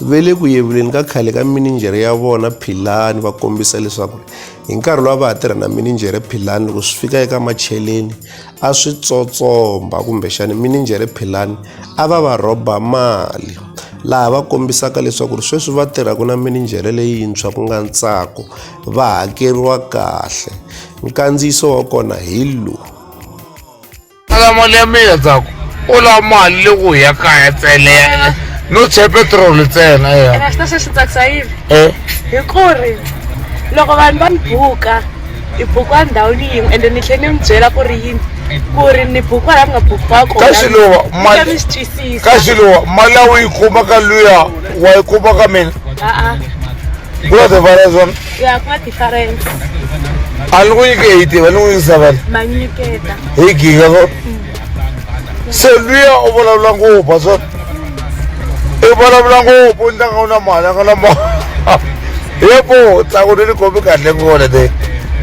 Ve le ku yevuleni ka khale ka mininjhere ya vona Philani va kombisa leswaku hi nkarhi lowu a va ha tirha na mininjhere Philani loko swi fika eka macheleni a swi tsotsomba kumbexani mininjhere Philani a va va rhoba mali laha va kombisaka leswaku ri sweswi va tirhaka na mininjhere leyintshwa ku nga ntsako va hakeriwa kahle nkandziyiso wa kona hi lowu ala mali ya mina tsako u lava mali le ku ya kaya tsele no che petrol tsena ya ene swi ta swi swi tsakisa yini eh hi ku ri loko vanhu va ni buka hi bukiwa ndhawini yin'we ende ni tlhela ni mi byela ku ri yini ku ri ni bukiwa laha mi nga bukiwa kona Ka Xiluva, Mi mali- ta mi swi twisisa ka xiluwa mali ya u yi kuma ka luya wa yi kuma ka mina a-a ku na tivala zona ya ku na difference a ni ku nyike hi tiva ni n'wi yingisa vale ma nyiketa hi giga so se luya u vulavula ngopfu so i vulavula ngopfu ni tlanga u na mali a nga na mali yepo tsako ni ni kombi kahle ngone te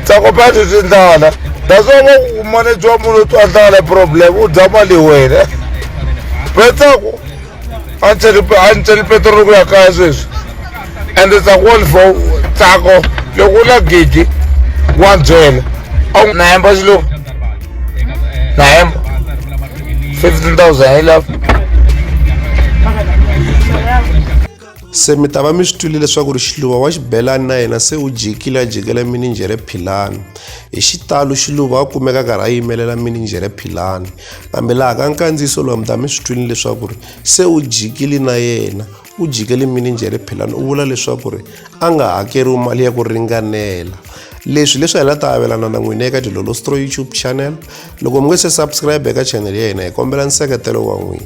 tsako pa ti swi ndlala that's why va ku manejwa munhu u twa ndlala problem u dya mali wena pe tsako a ni tsali a ni tsali petrol ku ya kaya sweswi ende tsako wa ni fo tsako loko u na gidi wa byela a wu na hemba xilo na hemba fifteen thousand hi lava se mi ta va mi swi twile leswaku ri xiluva wa xibelani na yena se u jikile a jikela mininjhere philani hi xitalo xiluva a kumeka karhi a yimelela mininjhere philani kambe laha ka nkandziyiso lowa mi ta mi swi twile leswaku ri se u jikile na yena u jikele mininjhere philani u vula leswaku ri a nga hakeriwi mali ya ku ringanela leswi leswi hi la ta avelana na n'wina eka dilolostro youtube channel loko mi nge se subscribe eka channel ya hina hi kombela nseketelo wa n'wina